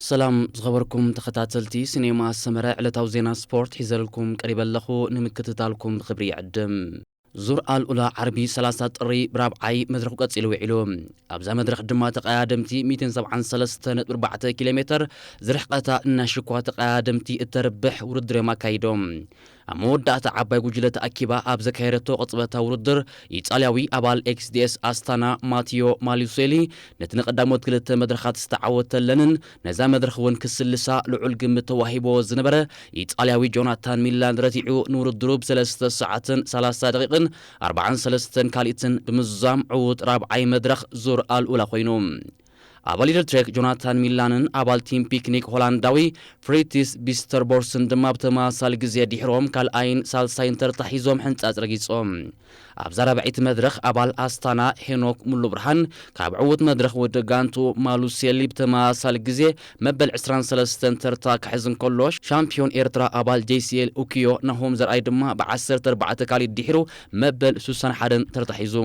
ሰላም ዝኸበርኩም ተኸታተልቲ ሲኔማ ሰመረ ዕለታዊ ዜና ስፖርት ሒዘልኩም ቀሪበ ኣለኹ ንምክትታልኩም ብኽብሪ ይዕድም። ዙር ኣልኡላ ዓርቢ ሰላሳ ጥሪ ብራብዓይ መድረኹ ቀጺሉ ውዒሉ። ኣብዛ መድረኽ ድማ ተቐያደምቲ ሚእትን ሰብዓን ሰለስተ ነጥቢ ኣርባዕተ ኪሎ ሜተር ዝርሕቐታ እናሽኳ ተቐያደምቲ እተርብሕ ውድድር እዮም ኣካይዶም። ኣብ መወዳእታ ዓባይ ጉጅለ ተኣኪባ ኣብ ዘካየደቶ ቅጽበታዊ ውድድር፣ ኢጣልያዊ ኣባል ኤክስዲኤስ ኣስታና ማቲዮ ማሉሴሊ ነቲ ንቀዳሞት ክልተ መድረኻት ዝተዓወተለንን ነዛ መድረኽ እውን ክስልሳ ልዑል ግምት ተዋሂቡዎ ዝነበረ ኢጣልያዊ ጆናታን ሚላን ረቲዑ ንውድድሩ ብ ሰለስተ ሰዓትን ሰላሳ ደቒቕን ኣርባዓን ሰለስተን ካልኢትን ብምዝዛም ዕዉት ራብዓይ መድረኽ ዙር ኣልኡላ ኮይኑ ኣብ ሊትል ትሬክ ጆናታን ሚላንን ኣባል ቲም ፒክኒክ ሆላንዳዊ ፍሪትስ ቢስተርቦርስን ድማ ብተመሳሳሊ ግዜ ድሒሮም ካልኣይን ሳልሳይን ተርታ ሒዞም ሕንጻጽ ረጊጾም። ኣብዛ ራብዐይቲ መድረኽ ኣባል ኣስታና ሄኖክ ሙሉብርሃን ካብ ዕዉት መድረኽ ውድድር ጋንትኡ ማሉሴሊ ብተመሳሳሊ ግዜ መበል ዕስራን ሰለስተን ተርታ ክሕዝ እንከሎ ሻምፕዮን ኤርትራ ኣባል ጄሲኤል ኡኪዮ ናሆም ዘርኣይ ድማ ብዓሰርተ ኣርባዕተ ካልኢት ድሒሩ መበል ሱሳን ሓደን ተርታ ሒዙ።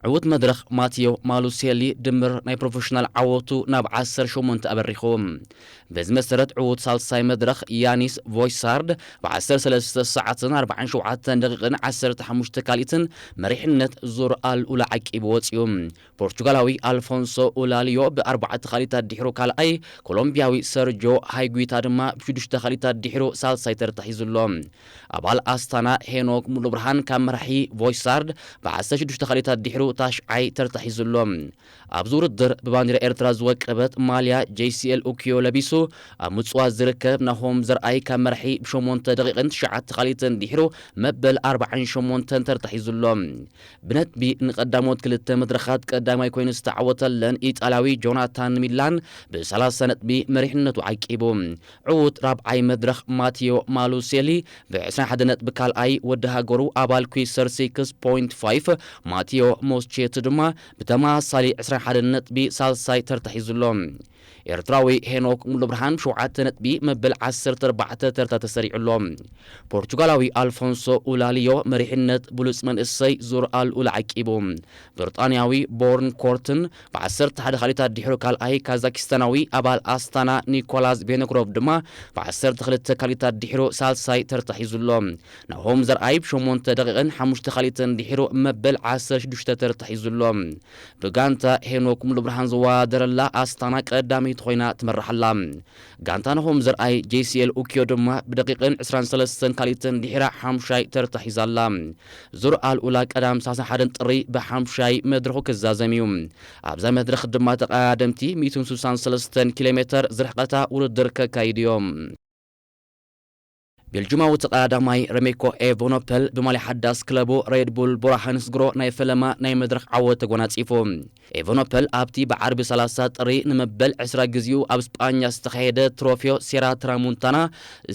ዕዉት መድረኽ ማትዮ ማሉሴሊ ድምር ናይ ፕሮፌሽናል ዓወቱ ናብ ዓሰርተ ሸሞንተ ኣበሪኹ። በዚ መሰረት ዕዉት ሳልሳይ መድረኽ ያኒስ ቮይሳርድ ብ ዓሰርተ ሰለስተ ሰዓትን ኣርብዓን ሸውዓተን ደቒቕን ዓሰርተ ሓሙሽተ ካልኢትን መሪሕነት ዙር ኣልኡላ ዓቂቡ ወጺኡ። ፖርቹጋላዊ ኣልፎንሶ ኡላልዮ ብ ኣርባዕተ ካልኢት ኣዲሕሩ ካልኣይ፣ ኮሎምብያዊ ሰርጆ ሃይጉይታ ድማ ብ ሽዱሽተ ካልኢት ኣዲሕሩ ሳልሳይ ተርታ ሒዙ ኣሎ። ኣባል ኣስታና ሄኖክ ሙሉብርሃን ካብ መራሒ ቮይሳርድ ብዓሰርተ ሽዱሽተ ካልኢታት ድሒሩ ታሽዓይ ተርታ ሒዙ ኣሎ። ኣብዚ ውድድር ብባንዴራ ኤርትራ ዝወቀበት ማልያ JCL Ukiyo ለቢሱ ኣብ ምጽዋት ዝርከብ ናሆም ዘርኣይ ካብ መራሒ ብሸሞንተ ደቂቕን ትሽዓተ ካልኢትን ድሒሩ መበል ኣርባዓን ሸሞንተን ተርታ ሒዙ ኣሎ። ብነጥቢ ንቀዳሞት ክልተ መድረኻት ቀዳማይ ኮይኑ ዝተዓወተለን ኢጣልያዊ ጆናታን ሚላን ብሰላሳ ነጥቢ መሪሕነቱ ዓቂቡ። ዕዉት ራብዓይ መድረኽ ማቲዮ ማሉሴሊ ብ ዕስራን ሓደን ነጥቢ ካልኣይ፣ ወዲ ሃገሩ ኣባል ኩይሰር ሲክስ ፖይንት ፋይፍ ማቲዮ ሞስቼቲ ድማ ብተመሳሳሊ ዕስራን ሓደን ነጥቢ ሳልሳይ ተርታ ሒዙ ኣሎ። ኤርትራዊ ሄኖክ ሙሉብርሃን ብ ሸውዓተ ነጥቢ መበል ዓሰርተ ኣርባዕተ ተርታ ተሰሪዑ ኣሎ። ፖርቹጋላዊ ኣልፎንሶ ኡላሊዮ መሪሕነት ብሉጽ መንእሰይ ዙር ኣልኡል ዓቂቡ። ብርጣንያዊ ቦርን ኮርትን ብዓሰርተ ሓደ ካልኢታት ድሒሩ ካልኣይ ካዛኪስታናዊ ኣባል ኣስታና ኒኮላዝ ቬኖግሮቭ ድማ ብዓሰርተ ክልተ ካልኢታት ድሒሩ ሳልሳይ ተርታ ሒዙ ኣሎ። ናሆም ዘርኣይ ብሸሞንተ ደቂቕን ሓሙሽተ ካልኢትን ድሒሩ መበል ዓሰርተ ሽዱሽተ ተርታ ሒዙ ኣሎ። ብጋንታ ሄኖክ ሙሉብርሃን ዝወዳደረላ ኣስታና ቀዳመይቲ ኮይና ትመርሕ ኣላ። ጋንታ ናሆም ዘርኣይ፣ JCL Ukyo፣ ድማ ብደቂቕን ዕስራን ሰለስተን ካልኢትን ድሒራ ሓሙሻይ ተርታ ሒዛ ኣላ። ዙር ኣልኡላ ቀዳም ሳሳ ሓደን ጥሪ ብሓሙሻይ መድረኹ ክዛዘም እዩ። ኣብዛ መድረኽ ድማ ተቐዳደምቲ ሚእትን ስሳን ሰለስተን ኪሎሜተር ዝርሕቐታ ውድድር ከካይዱ እዮም። ቤልጁማዊ ተቐዳዳማይ ረሜኮ ኤቨኖፐል ብማልያ ሓዳስ ክለቡ ሬድ ቡል ቦራሃንስግሮ ናይ ፈለማ ናይ መድረኽ ዓወት ተጎናጺፉ። ኤቨኖፐል ኣብቲ ብዓርቢ ሰላሳ ጥሪ ንመበል ዕስራ ግዜኡ ኣብ ስጳኛ ዝተኻየደ ትሮፌዮ ሴራ ትራሙንታና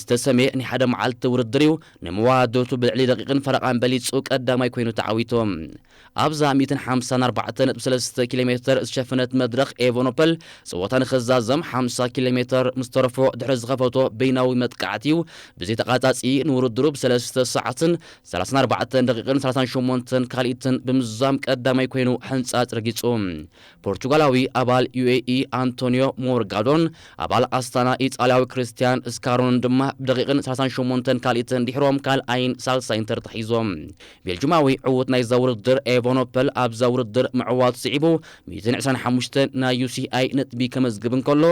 ዝተሰምየ ናይ ሓደ መዓልቲ ውድድር'ዩ፣ ንመዋድቱ ብልዕሊ ደቂቕን ፈረቓን በሊጹ ቀዳማይ ኮይኑ ተዓዊቱ። ኣብዛ ሚእትን ሓምሳን ኣርባዕተ ነጥቢ ሰለስተ ኪሎ ሜተር ዝሸፈነት መድረኽ ኤቨኖፐል ጸወታ ንኽዛዘም ሓምሳ ኪሎ ሜተር ምስ ተረፎ ድሕሪ ዝኸፈቶ በይናዊ መጥቃዕቲ'ዩ ብዘይ ተቛጻጺ ንውድድሩ ብሰለስተ ሰዓትን ሰላሳን ኣርባዕተን ደቒቕን ሰላሳን ሸሞንተን ካልኢትን ብምዝዛም ቀዳማይ ኮይኑ ሕንጻጽ ረጊጹ። ፖርቹጋላዊ ኣባል ዩኤኢ ኣንቶንዮ ሞርጋዶን ኣባል ኣስታና ኢጣልያዊ ክርስትያን ስካሮንን ድማ ብደቂቕን ሰላሳን ሸሞንተን ካልኢትን ድሒሮም ካልኣይን ሳልሳይን ተርታ ሒዞም። ቤልጁማዊ ዕዉት ናይዛ ውድድር ኤቨኖፐል ኣብዛ ውድድር ምዕዋቱ ስዒቡ ሚእትን ዕስራን ሓሙሽተን ናይ ዩሲኣይ ነጥቢ ከመዝግብ እንከሎ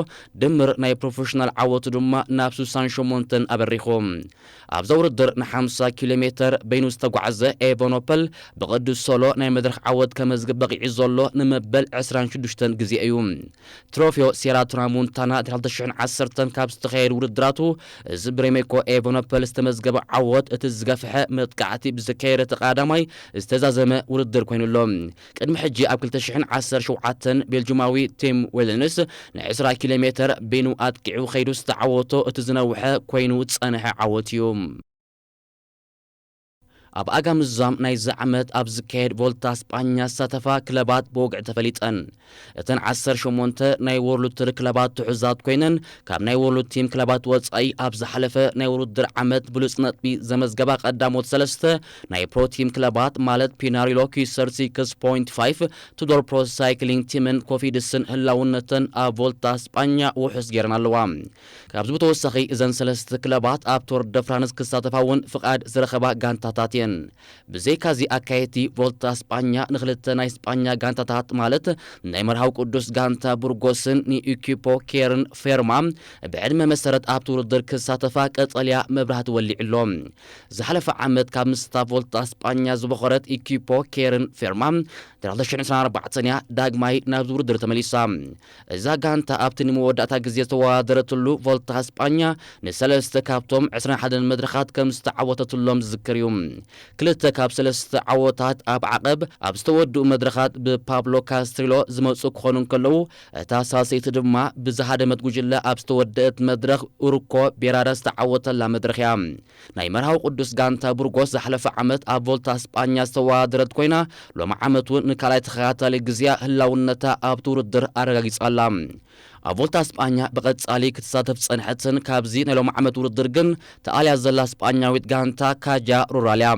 ድምር ናይ ፕሮፈሽናል ዓወቱ ድማ ናብ ስሳን ሸሞንተን ኣበሪኹ። ኣብዛ ውድድር ንሓምሳ ኪሎ ሜተር በይኑ ዝተጓዕዘ ኤቨኖፐል ብቕዱስ ሶሎ ናይ መድረኽ ዓወት ከመዝግብ በቒዑ ዘሎ ንመበል ዕስራን ሽዱሽተን ግዜ እዩ። ትሮፌው ሴራ ትራሞንታና ድሕሪ ክልተ ሽሕን ዓሰርተን ካብ ዝተኻየዱ ውድድራቱ እዚ ብሬሜኮ ኤቨኖፐል ዝተመዝገበ ዓወት እቲ ዝገፍሐ መጥቃዕቲ ብዘካየደ እቲ ቐዳማይ ዝተዛዘመ ውድድር ኮይኑ ኣሎ። ቅድሚ ሕጂ ኣብ ክልተ ሽሕን ዓሰርተ ሸውዓተን ቤልጁማዊ ቲም ዌለንስ ንዕስራ ኪሎ ሜተር በይኑ ኣጥቂዑ ከይዱ ዝተዓወቶ እቲ ዝነውሐ ኮይኑ ዝጸንሐ ዓወት እዩ። ኣብ ኣጋምዛም ናይዚ ዓመት ኣብ ዝካየድ ቮልታ ስጳኛ ዝሳተፋ ክለባት ብወግዒ ተፈሊጠን። እተን ዓሰርተ ሸሞንተ ናይ ዎርልድ ቱር ክለባት ትሑዛት ኮይነን ካብ ናይ ዎርልድ ቲም ክለባት ወጻኢ ኣብ ዝሓለፈ ናይ ውርድር ዓመት ብሉጽ ነጥቢ ዘመዝገባ ቀዳሞት ሰለስተ ናይ ፕሮ ቲም ክለባት ማለት ፒናሪሎ ኪሰር ሲክስ ፖይንት ፋይፍ፣ ቱዶር ፕሮ ሳይክሊንግ ቲምን ኮፊድስን ህላውነተን ኣብ ቮልታ ስጳኛ ውሑስ ገይረን ኣለዋ። ካብዚ ብተወሳኺ እዘን ሰለስት ክለባት ኣብ ቶር ደ ፍራንስ ክሳተፋ እውን ፍቓድ ዝረኸባ ጋንታታት እየን። ብዘይካዚ ኣካየድቲ ቮልታ ስጳኛ ንክልተ ናይ ስጳኛ ጋንታታት ማለት ናይ መርሃዊ ቅዱስ ጋንታ ቡርጎስን ንኢኪፖ ኬርን ፌርማ ብዕድመ መሰረት ኣብቲ ውድድር ክሳተፋ ቀጠልያ መብራህቲ ወሊዑ ኣሎ። ዝሓለፈ ዓመት ካብ ምስታ ቮልታ ስጳኛ ዝቦኸረት ኢኪፖ ኬርን ፌርማ ን ክልተ ሽሕን ዕስራን ኣርባዕተን እያ ዳግማይ ናብዚ ውድድር ተመሊሳ። እዛ ጋንታ ኣብቲ ንመወዳእታ ግዜ ዝተወዳደረትሉ ቮልታ ስጳኛ ንሰለስተ ካብቶም ዕስራን ሓደን መድረኻት ከም ዝተዓወተትሎም ዝዝከር እዩ። ክልተ ካብ ሰለስተ ዓወታት ኣብ ዓቐብ ኣብ ዝተወድኡ መድረኻት ብፓብሎ ካስትሪሎ ዝመጽኡ ክኾኑ እንከለዉ፣ እታ ሳልሰይቲ ድማ ብዝሃደመት ጉጅለ ኣብ ዝተወደእት መድረኽ ኡርኮ ቤራረ ዝተዓወተላ መድረኽ እያ። ናይ መርሃዊ ቅዱስ ጋንታ ቡርጎስ ዝሓለፈ ዓመት ኣብ ቮልታ ስጳኛ ዝተወዳደረት ኮይና ሎሚ ዓመት እውን ንካልኣይ ተኸታታሊ ግዜኣ ህላውነታ ኣብቲ ውድድር ኣረጋጊጻ ኣላ። ኣብ ቮልታ ስጳኛ ብቐጻሊ ክትሳተፍ ዝጸንሐትን ካብዚ ናይ ሎሚ ዓመት ውድድር ግን ተኣልያ ዘላ ስጳኛዊት ጋንታ ካጃ ሩራል እያ።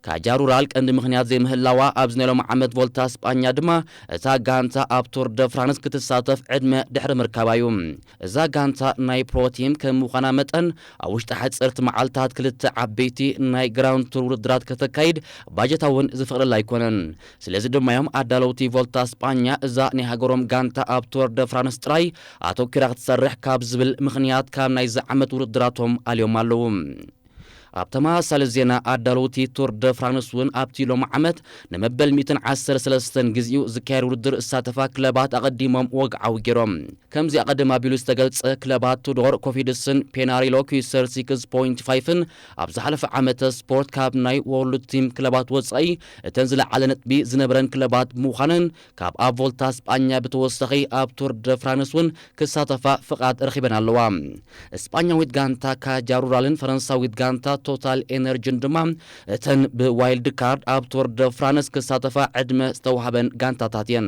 ካጃ ሩራል ቀንዲ ምኽንያት ዘይምህላዋ ኣብዚ ናይ ሎሚ ዓመት ቮልታ ስጳኛ ድማ እታ ጋንታ ኣብ ቱር ደ ፍራንስ ክትሳተፍ ዕድመ ድሕሪ ምርካባ እዩ። እዛ ጋንታ ናይ ፕሮ ቲም ከም ምዃና መጠን ኣብ ውሽጢ ሓጸርቲ መዓልታት ክልተ ዓበይቲ ናይ ግራንድ ቱር ውድድራት ከተካይድ ባጀታ እውን ዝፈቕደላ ኣይኮነን። ስለዚ ድማ እዮም ኣዳለውቲ ቮልታ ስጳኛ እዛ ናይ ሃገሮም ጋንታ ኣብ ቱር ደ ፍራንስ ጥራይ ኣተኲራ ክትሰርሕ ካብ ዝብል ምኽንያት ካብ ናይዚ ዓመት ውድድራቶም ኣልዮም ኣለዉ። ኣብ ተመሳሳሊ ዜና ኣዳለውቲ ቱር ደ ፍራንስ እውን ኣብቲ ሎሚ ዓመት ንመበል ሚእትን ዓሰርተ ሰለስተን ግዚኡ ዝካየድ ውድድር ዝሳተፋ ክለባት ኣቐዲሞም ወግዓዊ ገይሮም። ከምዚ ኣቐድም ኣቢሉ ዝተገልጸ ክለባት ቱዶር፣ ኮፊድስን ፔናሪሎ ኩይሰር ሲክስ ፖይንቲ ፋይፍን ኣብ ዝሓለፈ ዓመተ ስፖርት ካብ ናይ ዎርልድ ቲም ክለባት ወጻኢ እተን ዝለዓለ ነጥቢ ዝነበረን ክለባት ምዃነን ካብኣ ቮልታ ስጳኛ ብተወሳኺ ኣብ ቱር ደ ፍራንስ እውን ክሳተፋ ፍቓድ ረኺበን ኣለዋ። ስጳኛዊት ጋንታ ካጃ ሩራልን ፈረንሳዊት ጋንታ ቶታል ኤነርጅን ድማ እተን ብዋይልድ ካርድ ኣብ ቱር ደ ፍራንስ ክሳተፋ ዕድመ ዝተዋህበን ጋንታታት እየን።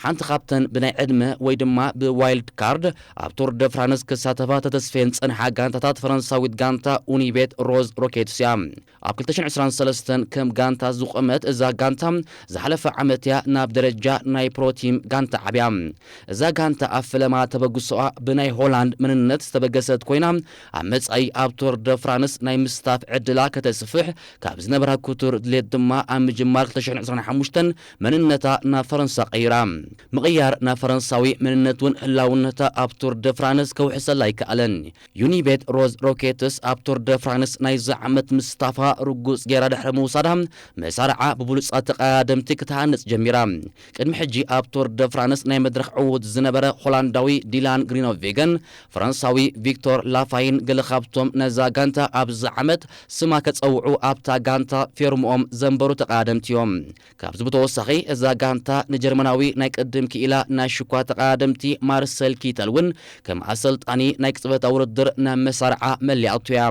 ሓንቲ ካብተን ብናይ ዕድመ ወይ ድማ ብዋይልድ ካርድ ኣብ ቱር ደ ፍራንስ ክሳተፋ ተተስፍየን ዝጸንሓ ጋንታታት ፈረንሳዊት ጋንታ ኡኒቤት ሮዝ ሮኬትስ እያ። ኣብ ክልተ ሽሕን ዕስራን ሰለስተን ከም ጋንታ ዝቖመት እዛ ጋንታ ዝሓለፈ ዓመት እያ ናብ ደረጃ ናይ ፕሮቲም ጋንታ ዓብያ። እዛ ጋንታ ኣብ ፈለማ ተበግሶኣ ብናይ ሆላንድ መንነት ዝተበገሰት ኮይና ኣብ መጻኢ ኣብ ቱር ደ ፍራንስ ናይ ምስታፍ ዕድላ ከተስፍሕ ካብ ዝነበራ ክቱር ድሌት ድማ ኣብ ምጅማር ክልተ ሽሕን ዕስራን ሓሙሽተን መንነታ ናብ ፈረንሳ ቀይራ። ምቕያር ናብ ፈረንሳዊ መንነት እውን ህላውነታ ኣብ ቱር ደ ፍራንስ ከውሕሰላ ኣይከኣለን። ዩኒቤት ሮዝ ሮኬትስ ኣብ ቱር ደ ፍራንስ ናይዚ ዓመት ምስታፋ ርጉጽ ገይራ ድሕሪ ምውሳዳ መሳርዓ ብብሉጻት ተቐዳደምቲ ክትሃንጽ ጀሚራ። ቅድሚ ሕጂ ኣብ ቱር ደ ፍራንስ ናይ መድረኽ ዕዉት ዝነበረ ሆላንዳዊ ዲላን ግሪኖቬገን ፈረንሳዊ ቪክቶር ላፋይን ገለ ካብቶም ነዛ ጋንታ ኣብዚ ዓመት ስማ ከጸውዑ ኣብታ ጋንታ ፌርምኦም ዘንበሩ ተቐዳደምቲ'ዮም። ካብዚ ብተወሳኺ እዛ ጋንታ ንጀርመናዊ ናይ ቅድም ክኢላ ናይ ሽኳ ተቐዳደምቲ ማርሰል ኪተል እውን ከም ኣሰልጣኒ ናይ ቅጽበታዊ ውድድር ናብ መሳርዓ መሊኣቶ እያ።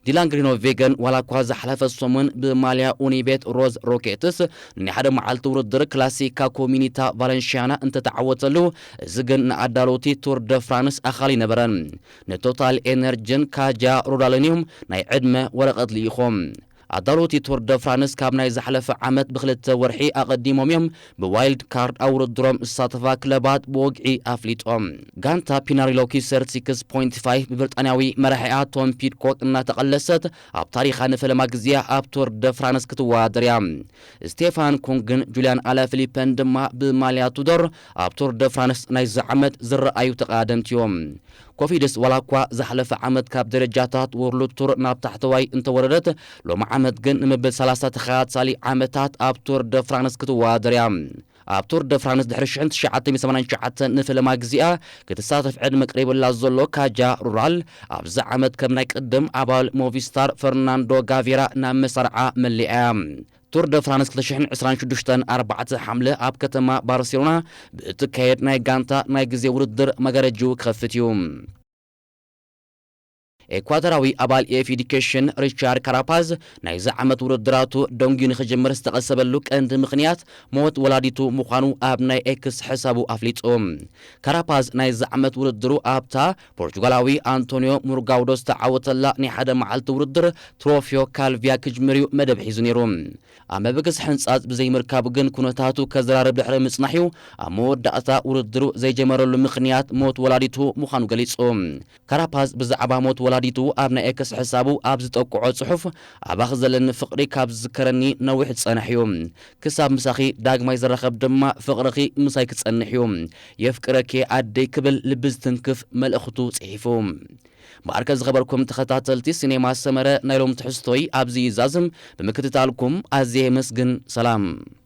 ዲላን ግሪኖቬገን ዋላ እኳ ዝሓለፈ ሰሙን ብማልያ ኡኒቤት ሮዝ ሮኬትስ ንናይ ሓደ መዓልቲ ውድድር ክላሲካ ኮሚኒታ ቫለንሽያና እንተተዓወተሉ እዚ ግን ንኣዳለውቲ ቱር ደ ፍራንስ ኣኻሊ ነበረን። ንቶታል ኤነርጅን ካጃ ሩራልን እዮም ናይ ዕድመ ወረቐት ልኢኾም። ኣዳለውቲ ቱር ደ ፍራንስ ካብ ናይ ዝሓለፈ ዓመት ብክልተ ወርሒ ኣቐዲሞም እዮም ብዋይልድ ካርድ ኣብ ውድድሮም ዝሳተፋ ክለባት ብወግዒ ኣፍሊጦም። ጋንታ ፒናሪሎ ኪሰር ሲክስ ፖይንቲ ፋይቭ ብብርጣንያዊ መራሒኣ ቶም ፒድኮክ እናተቐለሰት ኣብ ታሪኻ ንፈለማ ግዜ'ያ ኣብ ቱር ደ ፍራንስ ክትወዳደር እያ። ስቴፋን ኩንግን ጁልያን ኣላፊሊፐን ድማ ብማልያ ቱዶር ኣብ ቱር ደ ፍራንስ ናይዚ ዓመት ዝረኣዩ ተቐዳደምቲ እዮም። ኮቪድስ ዋላኳ ዝሓለፈ ዓመት ካብ ደረጃታት ዎርልድ ቱር ናብ ታሕተዋይ እንተወረደት፣ ሎሚ ዓመት ግን ንመበል ሰላሳ ተኸታታሊ ዓመታት ኣብ ቱር ደ ፍራንስ ክትወዳደር እያ። ኣብ ቱር ደ ፍራንስ ድሕሪ ሽሕን ትሽዓተ ሚእትን ሰማንያን ትሽዓተን ንፈለማ ግዜኣ ክትሳተፍ ዕድመ ቀሪቡላ ዘሎ ካጃ ሩራል፣ ኣብዚ ዓመት ከም ናይ ቅድም ኣባል ሞቪስታር ፈርናንዶ ጋቬራ ናብ መሳርዓ መሊኣ እያ። ቱር ደ ፍራንስ ክልተ ሽሕን ዕስራን ሽዱሽተን ኣርባዕተ ሓምለ ኣብ ከተማ ባርሴሎና ብእትካየድ ናይ ጋንታ ናይ ግዜ ውድድር መጋረጅኡ ክኸፍት እዩ። ኤኳተራዊ ኣባል ኤፍ ኢዲኬሽን ሪቻርድ ካራፓዝ ናይዚ ዓመት ውድድራቱ ደንጉዩ ንክጅምር ዝተቐሰበሉ ቀንዲ ምኽንያት ሞት ወላዲቱ ምዃኑ ኣብ ናይ ኤክስ ሕሳቡ ኣፍሊጡ። ካራፓዝ ናይዚ ዓመት ውድድሩ ኣብታ ፖርቹጋላዊ ኣንቶንዮ ሙርጋውዶ ዝተዓወተላ ናይ ሓደ መዓልቲ ውድድር ትሮፊዮ ካልቪያ ክጅምር'ዩ መደብ ሒዙ ነይሩ። ኣብ መበገሲ ሕንጻጽ ብዘይምርካቡ ግን ኩነታቱ ከዘራርብ ድሕሪ ምጽናሕ'ዩ ኣብ መወዳእታ ውድድሩ ዘይጀመረሉ ምኽንያት ሞት ወላዲቱ ምዃኑ ገሊጹ። ካራፓዝ ብዛዕባ ሞት ወላዲቱ ኣብ ናይ ኤክስ ሕሳቡ ኣብ ዝጠቅዖ ጽሑፍ ኣባኺ ዘለኒ ፍቕሪ ካብ ዝዝከረኒ ነዊሕ ዝጸንሕ'ዩ። ክሳብ ምሳኺ ዳግማይ ዝራኸብ ድማ ፍቕርኺ ምሳይ ክጸንሕ እዩ። የፍቅረኪ'የ ኣደይ ክብል ልቢ ዝትንክፍ መልእኽቱ ጽሒፉ። እምበኣርከ ዝኸበርኩም ተኸታተልቲ ሲኔማ ሰመረ ናይ ሎም ትሕዝቶይ ኣብዚ ይዛዝም። ብምክትታልኩም ኣዝየ የመስግን። ሰላም!